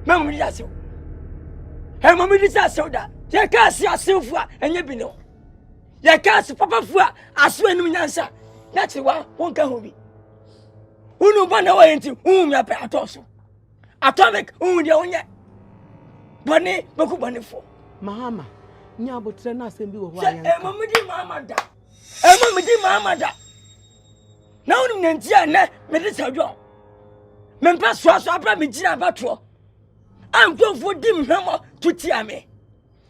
mɛma mede asew ɛma mede sɛ asew da yɛka ase asewfo a ɛnyɛ bi ne ho yɛka ase papafo a aso anim nyansa na kyerɛ wa wonka ho bi wone ba na wɔyɛ nti wohu me apɛ atɔ so Atomic, wohu deɛ wonyɛ. Bɔne bɛku bɔnefoɔ. Mahama, nya abotrɛ no asɛm bi wɔ hɔ a yɛnka. Sɛ ɛma medi Mahama da. Ɛma medi Mahama da. Na wonim ne nti a nnɛ mede sɛ dwɔn. Mempɛ soasoa berɛ a megyina abatoɔ. A nkurɔfoɔ di mhwɛmmɔ to tia me.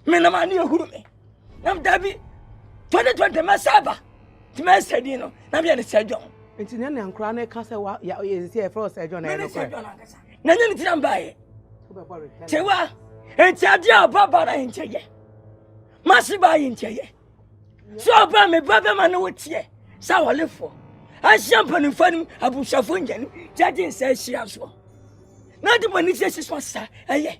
me na maa ne ɛhuru me nam dabi 2020 mɛsɛ aba nti mɛsɛ din no na meyɛ ne sɛ dwɔn nti ne nea nkora no ka sɛ yɛsisi ɛfrɛ wo sɛ dwɔn na ɛno korɛ na nyɛ ne tira mbaeɛ tewa nti adeɛ a ɔba ba no ayɛ nkyɛ yɛ mase ba ayɛ nkyɛ yɛ sɛ ɔba me ba bɛma ne wo teɛ sɛ awɔlefoɔ ahyia mpanimfoɔ no abusuafoɔ nyane gyagye nsa ahyia soɔ na de bɔne siesie so asa ɛyɛ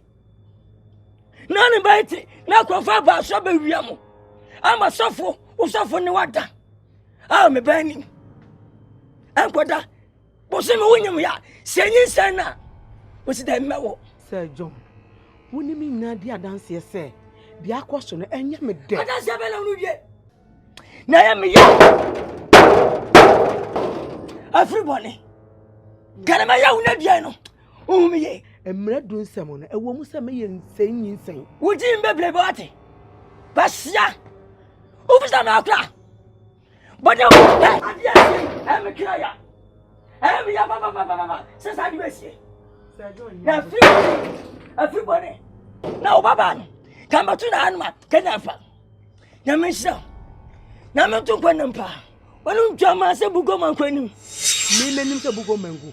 na ne bɛyɛ te na nkurɔfoɔ aba aso abɛwia mo ama sɔfo wo sɔfo ne wada a mebɛn nim ɛnkɔda bose me wonyim yɛ a sɛ nyi nsɛn no a wɔsi dɛ mmɛ wo sɛ john wo ne me nyinaa di adanseɛ sɛ deɛ akɔ so no ɛnyɛ me dɛ adanseɛ bɛ na wono wie na ɛyɛ meyɛ afiri bɔne kɛne mɛyɛ wo no aduan no Honhom ye. Mmara du nsɛm no, ɛwɔ mu sɛ meyɛ nsɛnnyinsɛn. Wo din bebrebe ɔte. Bahyia. Wobisa me akora. Bɔne wo pɛ. Adeɛ si ɛme kra ya. Ɛme ya papapapapa. Sɛ saa de bɛsie. Na afiri bɔne. Afiri bɔne. Na wo babaa no. Ka mbɛto na anoma. Kɛnyɛ afa. Nyame nhyira. Nyame nto nkwa nam paa. Wɔne ntwa maa sɛ bugoma nkwa anim. Me menim sɛ bugoma ngu.